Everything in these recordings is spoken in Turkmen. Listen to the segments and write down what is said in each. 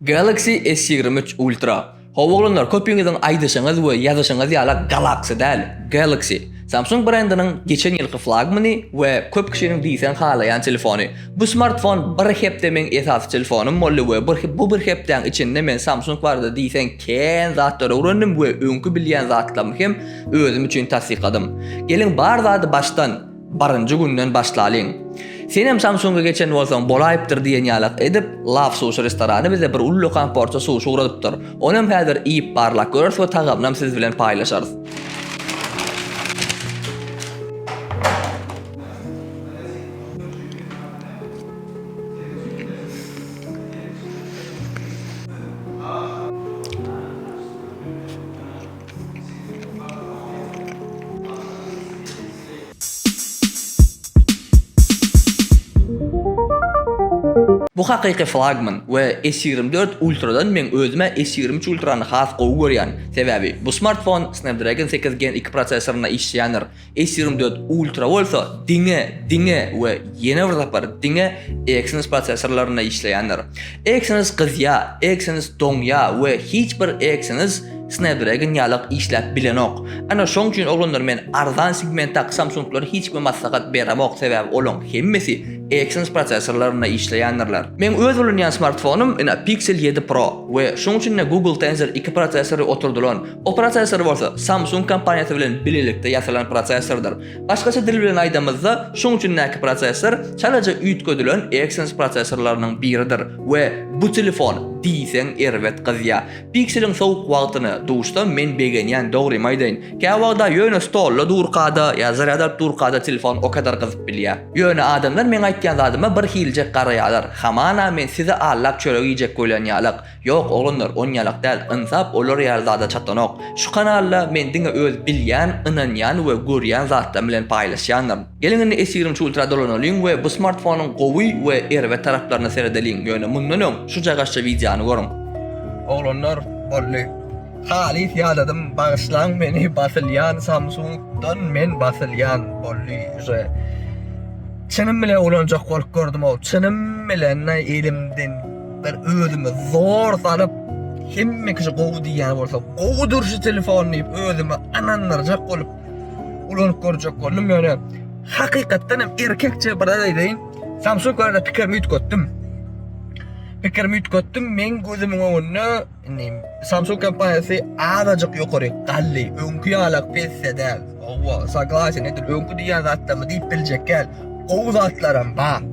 Galaxy S ýigrimi üç Ultra. Hawa oglanlar köpiňiziň aýdyşyňyz we ýazyşyňyz ýala Galaxy däl, Galaxy. Samsung brendiniň geçen ýylky flagmany we köp kişiniň diýseň halaýan telefony. Bu smartfon bir hepde meň esasy telefonym boldy we bu bir hepdäň içinde men Samsung barada diýseň kän zatlar öwrendim we öňki bilýän zatlarymy hem özüm üçin tassykladym. Geliň bar zady başdan. Birinji günden başlalyň. Senem Samsunga geçen bolsaň bolaýypdyr diýen ýalak edip, Love Sushi restorany bize bir uly lökan porsiýa suşi ugradypdyr. Onam häzir iýip barlak göreris we tagamynam siz bilen paýlaşarys. Bu hakyky flagman we S ýigrimi dört Ultra-dan meň özüm-ä S ýigrimi üç Ultra-ny has gowy görýän, sebäbi bu smartfon Snapdragon sekiz Gen iki prosessorynda işleýändir, S ýigrimi dört Ultra bolsa diňe, diňe we ýene bir sapar diňe Exynos prosessorlarynda işleýändir. Exynos gyzýa, Exynos doňýa we hiç bir Exynos Snapdragon ýalak işläp bilenok. Ana şoň üçin oglanlar men arzan segmentdaky Samsunglary hiç kime maslahat beremok sebäbi olaň hemmesi Exynos prosesorlarynda işleýändirler. Meň öz ulanýan smartfonym ina Pixel ýedi Pro we şoň üçinde Google Tensor iki prosesory oturdylan. O prosesor bolsa Samsung kompaniýasy bilen bilelikde ýasalan prosesordyr. Başgaça dil bilen aýdamyzda, şuň üçindäki prosessor çalaja üýtgedilen Exynos prosessorlarynyň biridir we bu telefon diýseň erbet gyzýa. Pixeliň sowuk wagtyny duşsam men begenýän dogrymy aýdaýyn. Käwagda ýöne stolda durkada ýa zarýad alyp durkada telefon o kadar gyzyp bilýä. Ýöne adamlar meň aýtýan zadyma bir hiljek garaýalar, hamana men sizi allap çörek iýjek bolýan ýalak. Ýok oglanlar on ýalak däl ynsap olar ýaly zada çatlanok şu kanalda men diňe öz bilýän ynanýan we görýän zatlarym bilen paýlaşýandyryn. Geliň indi esiriň şu ultra dolanalyň we bu smartfonyň gowy we erbet taraplaryna seredeliň ýöne mundan öň şu jagaşja wideony görüň. Oglanlar boldy halys ýadadym bagyşlaň meni basylýan samsung dan men basylýan boldy uje çynym bilen ulanjak bolup gördüm ow çynym bilen elimden. Men özümi zor salyp, hemme kişi gowy diýýän bolsa, gowudyr şu telefon diýip, özümi ynandyrjak bolup, ulanyp görjek boldum. Ýöne hakykatdan hem erkekçe bir zat aýdaýyn, Samsung barada pikirimi üýtgetdim. Pikirimi üýtgetdim, meň gözümiň öňünde Indi Samsung kompaniýasy azajyk ýokary galdy. Öňki ýalak pesse däl. Owa, saglaýyn edil öňki diýen zatlarmy diýip biljek gel. Gowy zatlaram bar.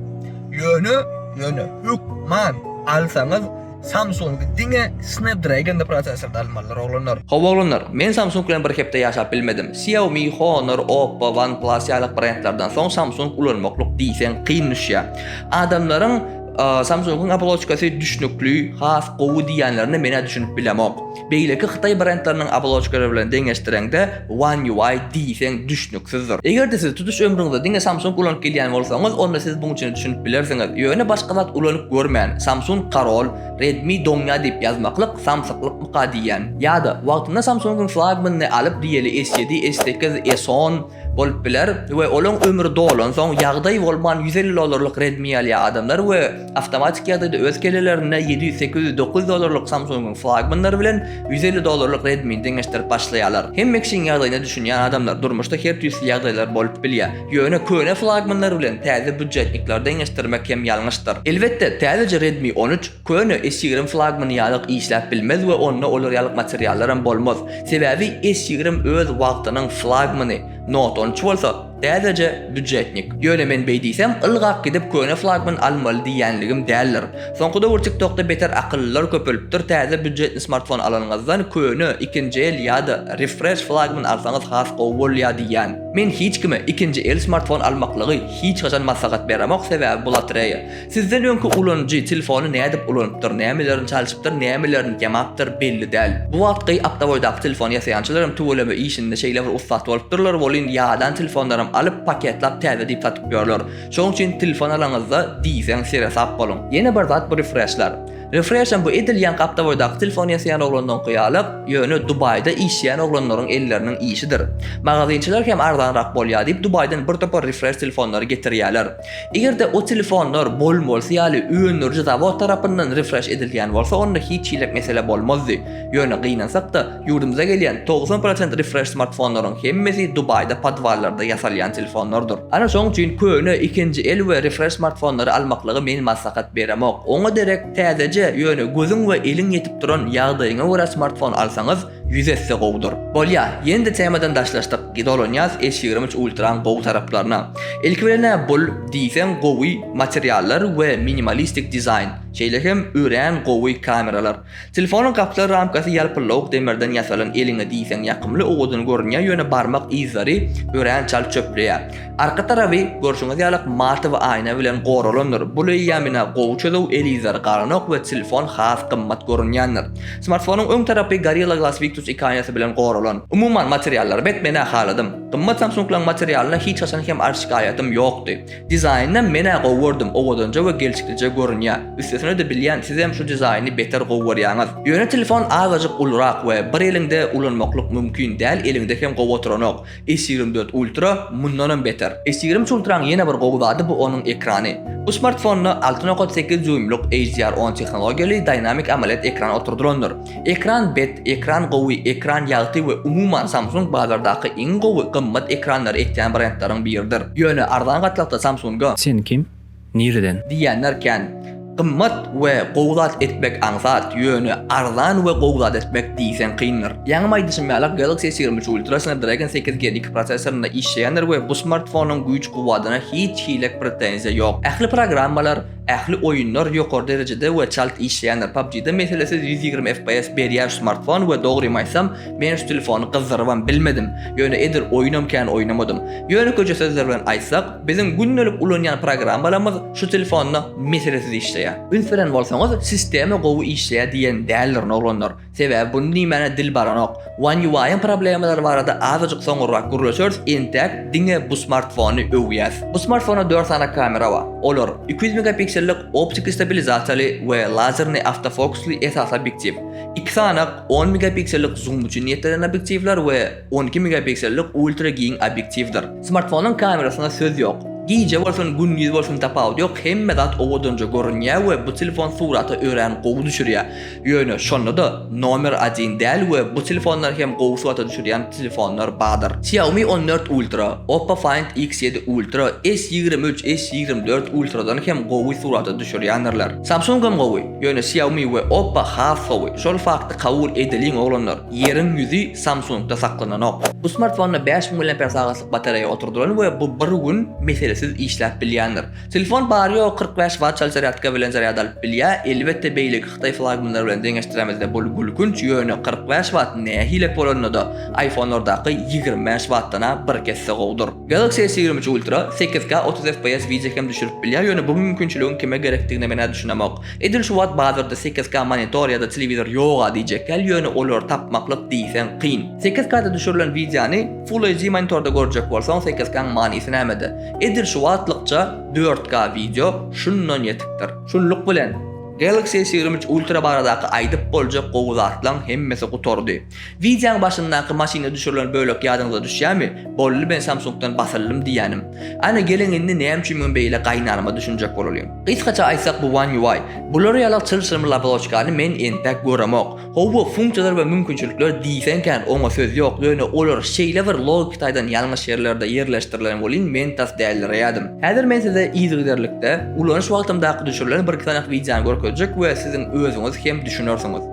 Ýöne, ýöne hökman alsaňyz Samsung diňe Snapdragon prosesorda almalydyr oglanlar. Hawa oglanlar, men Samsung bilen bir hepde ýaşap bilmedim. Xiaomi, Honor, Oppo, OnePlus ýalak brendlerden soň Samsung ulanmaklyk diýseň kyn düşýär. Adamlaryň Samsung-yň oboloçkasy düşnükli, has gowy diýýänlerine men-ä düşünip bilemok. Beýleki hytaý brendleriniň oboloçkalary bilen deňeşdireňde, One UI diýseň düşnüksizdir. Eger-de siz tutuş ömrüňizde diňe Samsung ulanyp gelýän bolsaňyz, onda siz buň içine düşünip bilersiňiz. Ýöne başga zat ulanyp görmän, Samsung korol, Redmi doňýa diýip ýazmaklyk samsyklykmyka diýýän. Ýa-da, wagtynda Samsung-yň flagmanyny alyp, diýeli S7, S8, S10, bolup biler we olaň ömri dolansoň ýagdaý bolman ýüz elli dollarlyk Redmi alýar adamlar we awtomatik ýagdaýda öz kellelerinde ýedi ýüz sekiz ýüz dokuz ýüz dollarlyk Samsungyň flagmanlary bilen ýüz elli dollarlyk Redmini deňeşdirip başlaýarlar hemme kişiň ýagdaýyna düşünýän adamlar durmuşda her tüýsli ýagdaýlar bolup bilýär ýöne köne flagmanlar bilen täze býudjetnikleri deňeşdirmek hem ýalňyşdyr elbetde täzeje Redmi on üç Köne S ýigrimi flagmany ýalyk işläp bilmez we onda olar ýalyk materiallaram bolmaz. Sebäbi S ýigrimi öz wagtynyň flagmany, Note on üç bolsa, täzeje býudjetnik. Ýöne men beý diýsem, ylgap gidip köne flagman almaly diýýänligim däldir. Soňky döwür TikTokda beter akyllylar köpelipdir, täze býudjetni smartfon alanyňyzdan köne, ikinji el ýa-da refresh flagman alsaňyz has gowy bolýar diýýän. Men hiç kime ikinji el smartfon almaklygy hiç haçan maslahat beremok, sebäbi bu lotreýa. Sizden öňki ulanyjy telefony nädip ulanypdyr, nämelerini çalşypdyr, nämelerini ýamapdyr, belli däl. Bu wagtky awtoboýdaky telefon ýasaýançylar hem tüweleme işinde şeýle bir ussat bolupdyrlar, welin ýadan telefonlaram alyp, paketlap täze diýip satyp ýörler. Şoň üçin telefon alanyňyzda diýseň seresap boluň. Ýene bir zat bu refreşler. Refreşem bu edil ýaňky awtoboýdaky telefon ýasaýan oglandaňky ýaly, ýöne Dubaýda işleýän oglanlaryň elleriniň işidir. Magazynçylar hem arzanrak bolýar diýip Dubaýdan bir topar refreş telefonlary getirýärler. Eger-de o telefonlar Boeing bolsa ýaly öndüriji zawod tarapyndan refresh edilýän bolsa onda hiç hiläk mesele bolmazdy. Ýöne gynansak-da, ýurdumyza gelýän togsan prosent refresh smartfonlaryň hemmesi Dubaýda podwallarda ýasalýan telefonlardyr. Ana şoň üçin köne, ikinji el we refresh smartfonlary almaklygy men maslahat beremok. Oňa derek täzeje, ýöne gözüň we eliň ýetip duran ýagdaýyňa görä smartfon alsaňyz, Ýüz esse gowudyr. Bolýa, ýene-de temadan daşlaşdyk, dolanýas E ýigrimüç Ultraň gowy taraplaryna. Ilki bilen-ä bul, diýseň gowy materiallar we minimalistik dizaýn, şeýle hem örän gowy kameralar. Telefonyň gapdal ramkasy ýalpyllawuk demirden ýasalan eliňe diýseň ýakymly owadan görünýär ýöne barmak yzlary örän çalt çöpleýär. Arka tarapy görşüňiz ýaly matowy aýna bilen goralandyr. Bu leýamina gowy çözüw, el yzlary galanok we telefon has gymmat görünýändir. Smartfonyň öň tarapy Gorilla Glass Victus ikaýasy bilen goralan. Umuman materiallary bet menä haladym. Gymmat Samsunglaň materialyna hiç haçan hem arz şikaýatym ýokdy. Dizaýnynam menä gowy gördüm, owadanja we gelşiklije görünýä. Üstesine-de bilýän sizem şu dizaýny beter gowy görýäňiz. Ýöne telefon azajyk ulurak we bir eliňde ulanmaklyk mümkin däl eliňde hem gowy oturanok. S ýigrimi dört Ultra mundanam beter. S ýigrimi üç Ultra-nyň ýene bir gowy zady bu onuň ekrany. Bu smartfonda alty nokat sekiz dýuýmlyk HDR on tehnologiýaly Dynamic AMOLED ekran oturdylandyr. Ekran bet, ekran gowy, ekran ýagty we umuman Samsung bazardaky iň gowy, gymmat ekranlary ekýän brendleriň biridir. Ýöne arzan gatlakda Samsung-a. Sen kim? Nireden? Diýýänler kän. Gymmat we gowy zat etmek aňsat, ýöne arzan we gowy zat etmek diýseň kyndyr. Ýaňam aýdyşym ýaly, Galaxy S ýigrimi üç Ultra Snapdragon sekiz gen iki prosessorynda işleýändir we bu smartfonyň güýç-kuwwatyna hiç hili pretenziýa ýok. Ähli programmalar, ähli oýunlar ýokary derejede we çalt işleýändir. PUBG-da meselesiz ýüz ýigrimi FPS berýär şu smartfon we dogrymy aýtsam, men şu telefony gyzdyrybam bilmedim, ýöne edil oýunam kän oýnamadym. Ýöne köçe sözler bilen aýtsak, Biziň gündelik ulanýan programmalarymyz şu telefonda meselesiz işleýär. Üns beren bolsaňyz, sistema gowy işleýär diýen däldirin oglanlar. Sebäbi bunu diýmäne dil baranok. One UI-yň problemalary barada azajyk soňurrak gürleşeris, entäk diňe bu smartfony öwýäs. Bu smartfonda dört sany kamera bar. Olar, iki ýüz megapiksellik optiki stabilizasiýaly we lazerni awtofokusly esasy obýektiw, iki sany on megapiksellik zoom üçin niýetlenen obýektiwler we on iki megapiksellik ultra giň obýektiwdir. Smartfonyň kamerasyna söz ýok. Gije bolsun gündiz bolsun tapawudy ýok hemme zat owadanja görünýä we bu telefon surata örän gowy düşürýä. Ýöne şondada nomer adin däl we bu telefonlar hem gowy surata düşürýän telefonlar badyr. Xiaomi on dört ultra, Oppo Find X ýedi ultra, S ýigrimi üç, S ýigrimi dört ultradan hem gowy surata düşürýändirler. Samsung hem gowy, ýöne Xiaomi we Oppo has gowy. Şol fakty kabul edeliň oglanlar. Ýeriň ýüzi Samsung-da saklananok. Bu smartfonda bäş müň mAh batareýa oturdylan we bu bir gün meselesiz işläp bilýändir. Telefon bary-ýogy kyrk bäş watt çal zarýadka bilen zarýad alyp bilýär. Elbetde beýleki hytaý flagmanlary bilen deňeşdiremizde bul gülkünç, ýöne kyrk bäş watt nähili bolanynada iPhone-lardaky ýigrimi bäş wattdan-a birkesse gowudyr. Galaxy S ýigrimi üç Ultra sekiz K otuz fps wideo hem düşürip bilýär, ýöne bu mümkinçiligiň kime gerekdigine men-ä düşünemok. Edil şu wagt bazarda sekiz K monitor ýa-da telewizor ýog-a diýjek däl, ýöne olary tapmaklyk diýseň kyn. Sekiz K-da düşürilen wideony Full HD monitorda görjek bolsaň sekiz K-nyň manysy nämede? Edil şu wagtlykça dört K wideo şundan ýetikdir. Şunluk bilen, Galaxy S ýigrimi üç Ultra baradaky aýdyp boljak gowy zatlaň hemmesi gutardy. Wideoň başyndaky maşynda düşürilen bölek ýadyňyza düşýämi? Bolly men Samsungdan basyldym diýýänim. Ana geliň indi näme üçin men beýle gaýynanama düşünjek bolalyň. Gysgaça aýtsak bu One UI. Bulara ýalak çylşyrymly oboloçkany men entek göremok. Howwa funksiýalar we mümkinçilikler diýseň kän oňa söz ýok ýöne olar şeýle bir logiki taýdan ýalňyş ýerlerde ýerleşdirilen welin men tas dällireýädim. Häzir men size yzygiderlikde ulanyş wagtymdaky düşürilen birki sanak wideony görkezjek we siziň özüňiz hem düşünersiňiz.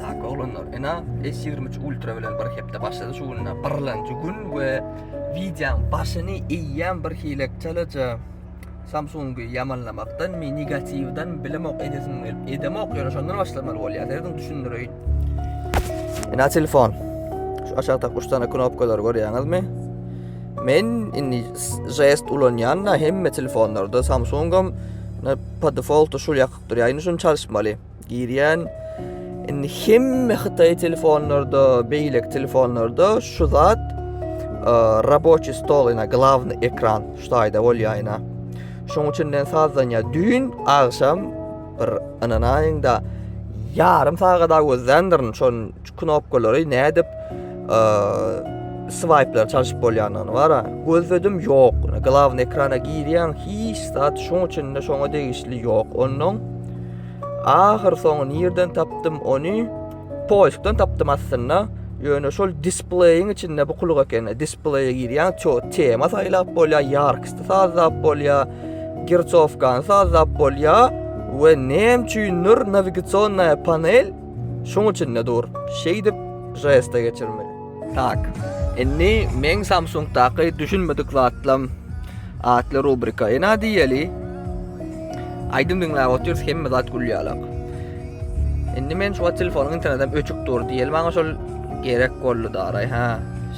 Tak oglanlar, ina S23 Ultra bilen bir hepde başlady şu günde. Birlenji gün we wideoň başyny eýýäm bir hilekçeleje Samsungy ýamanlamakdan mi negatiwden bilemok edesim gelip edemok ýöne şondan başlamaly bolýar. Sizin düşündireýin. Ina telefon. Şu aşakda 3 dana knopkalar görýäňizmi? Men indi jest ulanýan-da hemme telefonlarda Samsungam po defaultu şul ýakyp durýar. Indi şuny çalyşmaly. Girýän. Indi hemme Hytaý telefonlarda, beýleki telefonlarda şu zat e, raboçi stol, ýa glavny ekran şu taýda bolýaýna. Şoň üçin men sazdanýa düýn agşam bir ynanaýyň da ýarym sagada gözländirin, şon knopkalary nädip swipe'lar çalşyp bolýandygyny bara gözledim ýok. Glavny ekrana girýän hiç zat şoň üçin de şoňa degişli ýok. Ondan ahyr soňy nirden tapdym ony? Poýskdan tapdym aslynda. Ýöne şol displeýiň içinde bu kuluk ekeni. Displeýe girýän ço tema saýlap bolýar, ýarkysty sazlap bolýar, girçowkany sazlap bolýar we näme üçindir nawigasionnaýa panel Şuň üçin-de dur, şeýdip žesta geçirmeli. Tak, indi meň Samsungdaky düşünmedik zatlam atly rubrika. Ena diýeli, aýdym diňläp otyrys, hemme zat gül ýalak. Indi men şu wagt telefonyň internetem öçük dur diýeli, maňa şol gerek boldy daraý, hä.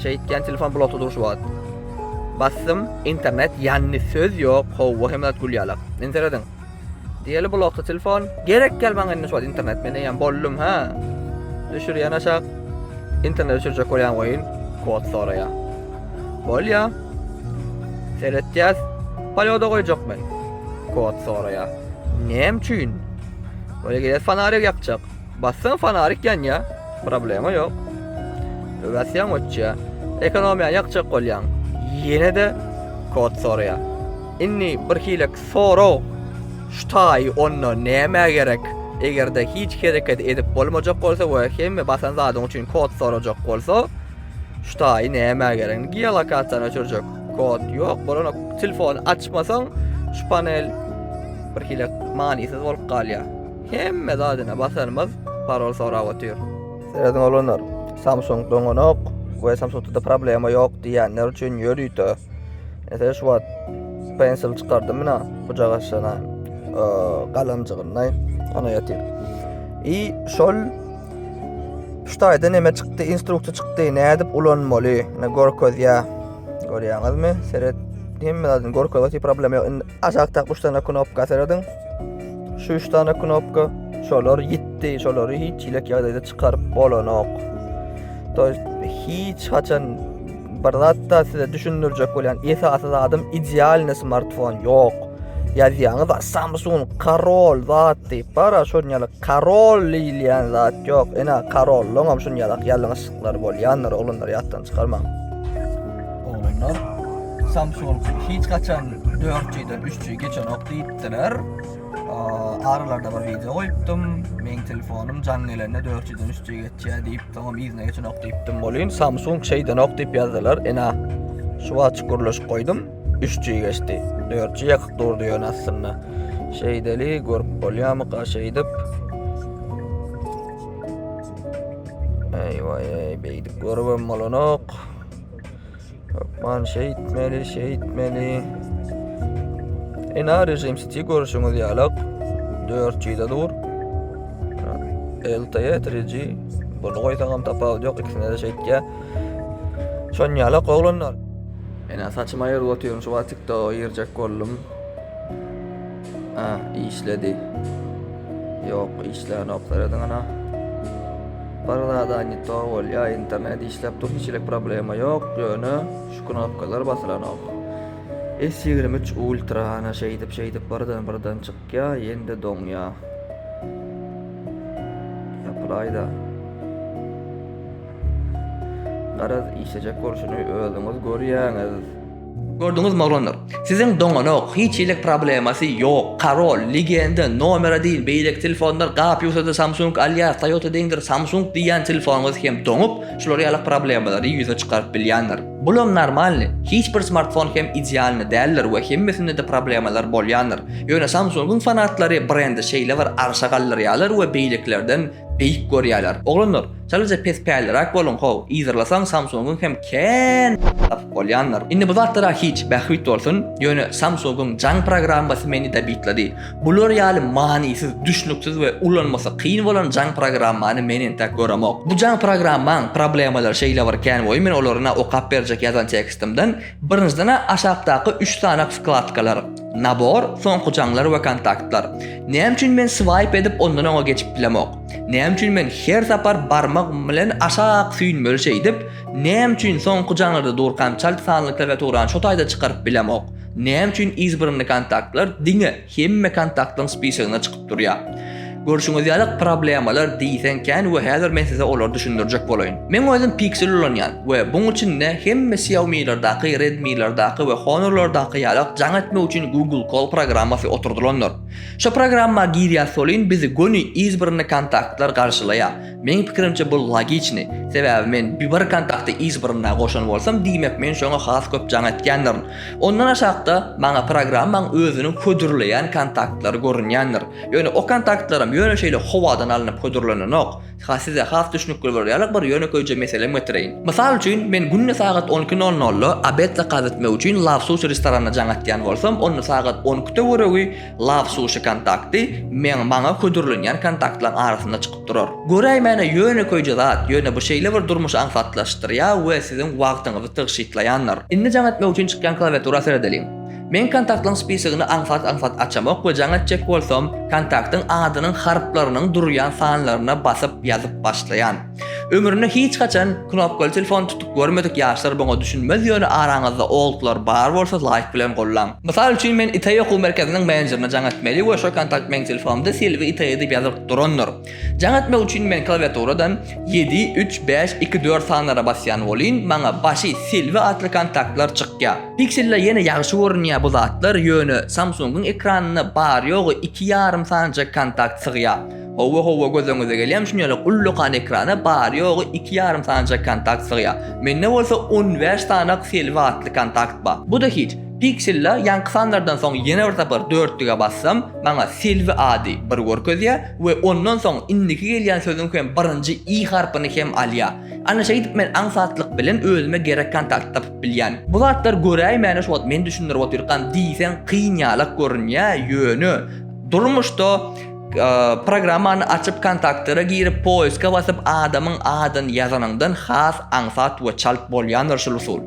Şeýtýän telefon blokda dur şu wagt. Basdym, internet ýandy, söz ýok, howwa hemme zat gül ýalak. Indi serediň. Diýeli blokda telefon. Gerek däl maňa indi şol internet men eýýäm boldum ha. Düşürýän aşak. Internet düşürjek bolýan oýun kod soraýa. Bolýa. Seretýäs. Polýoda goýjak men. Kod soraýa. Näme üçin? Oýa gelýär fanarik ýakjak. Bassaň fanarik ýanýa. Problema ýok. Öwäsýäň öçýä. Ekonomiýa ýakjak bolýaň. Ýene-de kod soraýa. Inni bir hile Sorag, Şu taýy onda nämä gerek? Eger-de hiç hereket edip bolmajak bolsa we hemme basan zadyň üçin kod sorajak bolsa, şu taýy nämä gerek? Geolokasiýany öçürjek kod ýok, bolanok. Telefony açmasaň, şu panel birhili manysyz bolup galýar. Hemme zadyna basanymyz parol sorap otyr. Seredin oglanlar, Samsung doňanok we Samsungda-da problema ýok diýýänler üçin ýörite Ese şu wagt pensel çykardym ina bucak aşana galanjygynday ana ýatyr. I şol şu taýda neme çykdy, instruksiýa çykdy, nädip ulanmaly, ne görkezýä. Görýäňizmi? Seret hemme zadyny görkezýä, hiç problem ýok. Indi aşakda 3 dana knopka serediň. Şu 3 dana knopka şolar ýitdi, şolary hiç ýelek ýagdaýda çykaryp bolanok. Toýst hiç haçan Bir zatda size düşündirjek bolýan esasy zadym idealny smartfon ýok. Ýazýaňyz Samsung karol zat diýip bar, şonýaly karol diýilýän zat ýok. Ene karollyň hem şonýalak ýalňyşlyklar bolýandyr, oglanlar ýatdan çykarmaň. Oglanlar Samsung hiç haçan 4G-den 3G geçenok diýipdiler. Aralarda bir wideo goýupdym. Meň telefonym jan gelende 403-nji geçýär diýip, soňam yzyna geçenok diýipdim. Bolýan Samsung şeýdenok diýip ýazdylar. Ene, şu wagt çukurlaşyp goýdum. 3-nji geçdi. 4-nji ýakyk durdy ýöne aslynda. Şeýdeli görüp bolýarmyka şeýdip? Eý, eý, beýdip görübem bolanok. Hökman şeýtmeli, şeýtmeli. Ena rejim siti görüşüňiz ýalak. 400-de dur. LTE 3G. Bunu goýsagam tapawut ýok, ikisine de şeýtýä. Şon ýalak oglanlar. Ena saçyma ýer otyň, şu wagt TikTok girjek boldum. Hä, işledi. Ýok, işlänok, serediň ana. Bir zada ne to bolýa, internet işläp dur, hiç elek problema ýok, ýöne şu knopkalar basylanok. S23 Ultra ana şeýdip şeýdip birden birden çykýa, ýende doňýa. Ýapylaýda. Garaz işlejek bolşuny özüňiz görýäňiz. Gördüňizmi oglanlar? Siziň doňanok, hiç hili problemasy ýok, Karol, Legenda, Nomera deýin beýleki telefonlar gap-ýuwsady Samsung alýar, Toyota deýindir Samsung diýýän telefonyňyz hem doňup, şular ýaly problemalary ýüze çykaryp bilýändir. Bulam normalny, hiç bir smartfon hem idealny däldir we hemmesinde-de problemalar bolýandyr. Ýöne Samsungyň fanatlary brendi şeýle bir arşa galdyrýarlar we beýlekilerden Beýik görýärler. Oglanlar, çalaja pespälliräk boluň how, yzarlasaň Samsungyň hem kän tapyp bolýandyr. Indi bu zatlara hiç bähbit bolsun, ýöne Samsungyň jaň programmasy meni dabitlady. Bular ýaly manysyz, düşnüksiz we ulanmasy kyn bolan jaň programmany men entäk göremok. Bu jaň programmaň problemalary şeýle bir kän we men olaryna okap berjek ýazan tekstimden, Birinjiden-ä aşakdaky üç sanak wkladkalar, Nabor, Soňky jaňlar we Kontaktlar. Näme üçin men swaýp edip ondan oňa geçip bilemok? Näme üçin men her sapar barmagym bilen aşak süýnmeli şeýdip, näme üçin soňky jaňlarda durkam çalt sanly klawiaturany şo taýda çykaryp bilemok? Näme üçin yzbirnli kontaktlar diňe Hemme kontaktyň spisogyna çykyp durýar. Görşüňiz ýaly, problemalar diýseň kän we häzir men size olary düşündirjek bolaýyn. Men özüm Pixel ulanýan we buň üçin-de hemme Xiaomi'lerdaky, Redmi'lerdaky we Honor'lardaky ýalak jaň etmek üçin Google Call programmasy oturdylandyr. Şo programma girýas solin bizi göni yz birine kontaktlar garşylaýar. Meň pikirimçe bul logiçny, sebäbi men biber kontakty izbrnda goşan bolsam diýmek men şoňa has köp jaň etýändirin. Ondan aşakda maňa programmaň özüniň hödürleýän kontaktlary görünýändir. Ýöne o kontaktlaram ýöne şeýle howadan alnyp hödürlenenok. Ha size has düşnükli bolar ýaly bir ýönekeýje meselem getireýin. Mysal üçin men günde sagat on iki nol nolda obed zakaz etmek üçin Love Sushi restoranyna jaň etýän bolsam onda sagat on ikide göregi Love Sushi kontakty meň maňa hödürlenýän kontaktlaryň arasynda çykyp durar. Göräýmäne ýönekeýje zat, ýöne bu şeýle bir durmuşy aňsatlaşdyrýar we siziň wagtyňyzy tygşytlaýandyr. Indi jaň etmek üçin çykýan klawiatura seredeliň. Men kontaktlaryň spisigini aňsat-aňsat açamok we jaň etjek bolsam, kontaktyň adynyň harplarynyň durýan sanlaryna basyp ýazyp başlaýan. Ömründe hiç haçan knopkaly telefon tutup görmedik ýaşlar buňa düşünmez ýöne araňyzda oldlar bar bolsa laýk bilen gollan. Mysal üçin men Itaý okuw merkeziniň menejerine jaň etmeli we şo kontakt meň telefonymda Silvi Itaý edip ýazylyp durandyr. Jaň etmek üçin men klawiaturadan ýedi, üç, bäş, iki, dört sanlara basýan bolyn maňa başy Silvi atly kontaktlar çykýa. Pixelda ýene ýagşy görünýä bu zatlar ýöne Samsungyň ekranynda bary ýogy iki ýarym sanjak kontakt sygýa. Howwa howwa göz öňüňize gelýämi şuny ýaly ullakan ekrana bary ýogy iki ýarym sanajak kontakt sygýar. Mende bolsa on bäş sanak selbi atly kontakt bar. Buda hiç. Pixel-la ýaňky sanlardan soň ýene bir sapar dörtlige bassam maňa selbi ady bir görkezýär we ondan soň indiki gelýän sözüň hem birinji i harpyny hem alýar. Ana şeýdip men aňsatlyk bilen özüme gerek kontakty tapyp bilýän. Bu zatlar göräýmäne şu wagt men düşündirip otyrkam diýseň kyn ýalak görünýär ýöne durmuşda Programmany açyp kontaktlere girip poiska basyp adamyň adyny ýazanyňdan has aňsat we çalt bolýandyr şul usul.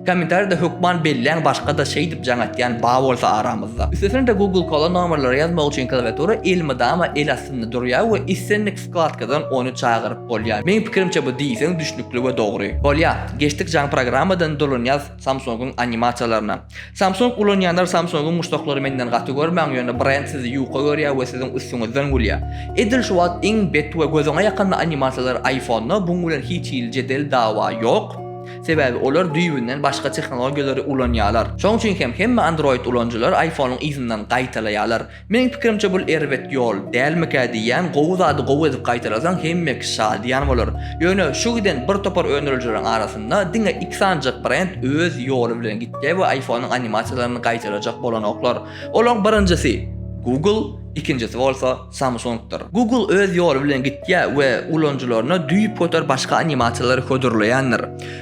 Kommentariýada hökman belläň başgada şeýdip jaň atýan ba bolsa aramyzda. Üstesine-de Google Call-a nomerleri ýazmak üçin klawiatura elmydama el astynda durýar we islendik wkladkadan ony çagyryp bolýar. Meň pikirimçe bu diýseň düşnükli we dogry. Bolýa, geçdik jaň programmadan durlunýas. Samsung-yň animasiýalaryna. Samsung ulanýanlar Samsung-yň muşdaklary menden gaty görmäň ýöne brend sizi ýuka görýär we siziň üstüňizden gülýär. Edil şu wagt iň bet we gözüňe ýakymly animasiýalar iPhone-da buň bilen hiç hili jedel dawa ýok. Sebäbi olar düýbünden başga tehnologiýalary ulanýarlar. Şoň üçin hem hemme Android ulanyjylar iPhone-yň yzyndan gaýtalaýarlar. Meň pikirimçe bul erbet ýol dälmikä diýýän gowy zady gowy edip gaýtalasaň hemme kişi şadyýan bolar. Ýöne şu giden bir topar öndürijileriň arasynda diňe iki sanjak brend öz ýoly bilen gitýär we iPhone-yň animasiýalaryny gaýtalajak bolanoklar. Olaň birinjisi Google, ikinjisi bolsa Samsung-dyr. Google öz ýoly bilen gitýär we ulanyjylaryna düýpgöter başga animasiýalary hödürleýändir.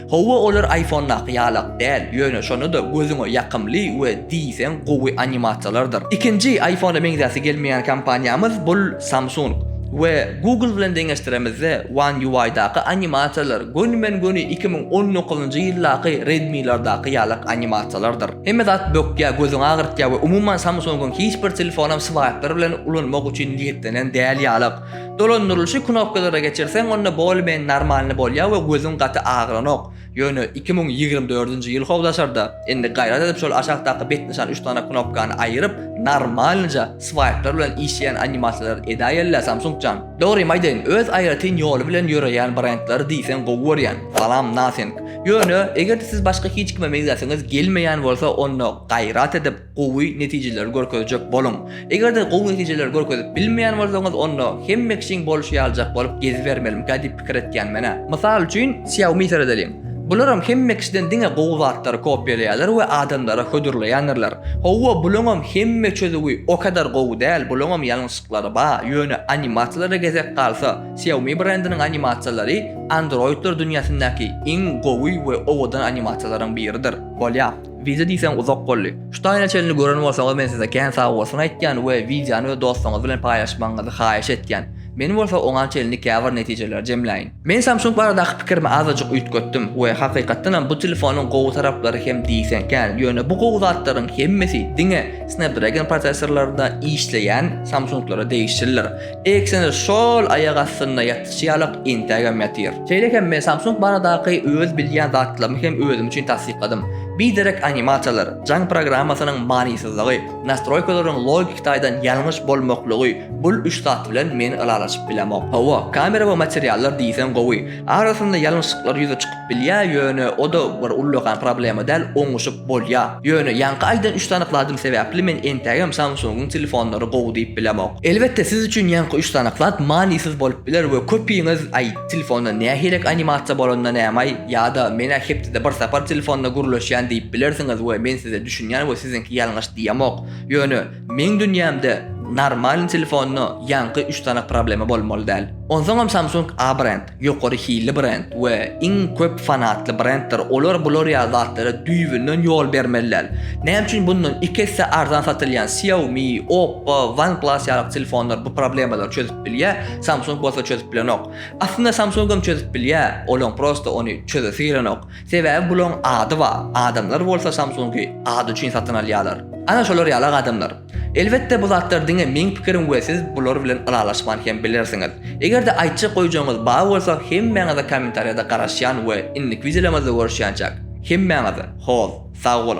Howwa olar iPhone-daky ýalak däl, ýöne şonda-da gözüňe ýakymly we diýseň gowy animasiýalardyr. Ikinji iPhone-a meňzäsi gelmeýän kompaniýamyz bul Samsung. We Google bilen deňeşdiremizde One UI-daky animasiýalar gönümen-göni iki müň on dokuzynjy ýyldaky Redmi-lardaky ýalak animasiýalardyr. Hemme zat bökýär, gözüňi agyrtýar we umuman Samsung-yň hiç bir telefonam swaýplar bilen ulanmak üçin niýetlenen däl ýalak. Dolandyrylyşy knopkalara geçirseň onda bolymeni normalny bolýar we gözüň gaty agyranok. Ýöne iki müň ýigrimi dördünji ýyl how daşarda. Indi gaýrat edip şol aşakdaky bet nyşan üç sany knopkany aýyryp normalnyja swaýplar bilen işleýän animasiýalary edä ýella Samsung jan. Dogrymy aýdaýyn öz aýratyn ýoly bilen ýöreýän brendleri diýseň gowy görýän. Salam Nothing. Ýöne egerde siz başga hiç kime meňzäsiňiz gelmeýän bolsa onda gaýrat edip. gowy netijeleri görkezjek boluň. Eger-de gowy netijeleri görkezip bilmeýän bolsaňyz, onda hemme kişiň bolşy ýalyjak bolup gezibermelimikä diýip pikir etýän men-ä. Mysal üçin, Xiaomi seredeliň. Bularam hemme kişiden diňe gowy zatlary kopiýalaýarlar we adamlara hödürleýändirler. Hawa, bulaňam hemme çözüwi o kadar gowy däl, bulaňam ýalňyşlyklary bar, ýöne animasiýalara gezek galsa, Xiaomi brendiniň animasiýalary Androidler dünýäsindäki iň gowy we owadan animasiýalaryň biridir. Bolýa. Wideo diýseň uzak boldy. Şu taýyna çenli gören bolsaňyz men size kän sag bolsun aýtýan we wideony öz dostuňyz bilen paýlaşmagyňyzy haýyş etýän. Men bolsa oňa çenli käbir netijeleri jemläýin. Men Samsung baradaky pikirimi azajyk üýtgetdim we hakykatdanam bu telefonyň gowy taraplary hem diýseň kän, ýöne bu gowy zatlaryň hemmesi diňe Snapdragon prosessorlarynda işleýän Samsunglara degişlidir. Eksene şol aýak astynda ýatyşy ýalak entägem ýatyr. Şeýle hem men Samsung baradaky öz bilýän zatlarymy hem özüm üçin tassykladym. Biderek animasiýalar, jaň programmasynyň manysyzlygy, nastroýkalaryň logiki taýdan ýalňyş bolmaklygy bul üç zat bilen men ylalaşyp bilemok. Hawa, kamera we materiallar diýseň gowy. Arasynda ýalňyşlyklar ýüze çykyp Bilýä ýöne oda bir ullakan problema däl oňuşyp bolýa. Ýöne ýaňky aýdan üç sany kladym sebäpli men entägem Samsungyň telefonlary gowy diýip bilemok. Elbetde siz üçin ýaňky üç sany klad manysyz bolup biler we köpiňiz aý telefonda nähirek animasiýa bolanda nämaý ýada menä hepdede bir sapar telefonda gürleşýän diýip bilersiňiz we men size düşünýän we siziňki ýalňyş diýemok ýöne meň dünýämde normalny telefonda ýaňky üç sany problema bolmaly däl. Onsoňam Samsung A brend. Ýokary hilli brend we iň köp fanatly brenddir. Olar bular ýaly zatlara düýbünden ýol bermeliler. Näme üçin bundan iki esse arzan satylýan Xiaomi, Oppo, OnePlus ýaly telefonlar bu problemalary çözüp bilýär, Samsung bolsa çözüp bilenok. Aslynda Samsungam çözüp bilýär, olaň prosta ony çözesi gelenok. Sebäbi bulaň ady bar, adamlar bolsa Samsungy ady üçin satyn alýarlar. Ana şolar ýaly adamlar. Elbetde bu zatlar diňe meň pikirim we siz bular bilen ylalaşman hem bilersiňiz. Egerde aýtjak goýjagyňyz bar bolsa hemmäňize kommentariýada garaşýan we indiki wideolarymyzda görüşýänçäk hemmäňize hoz sag boluň.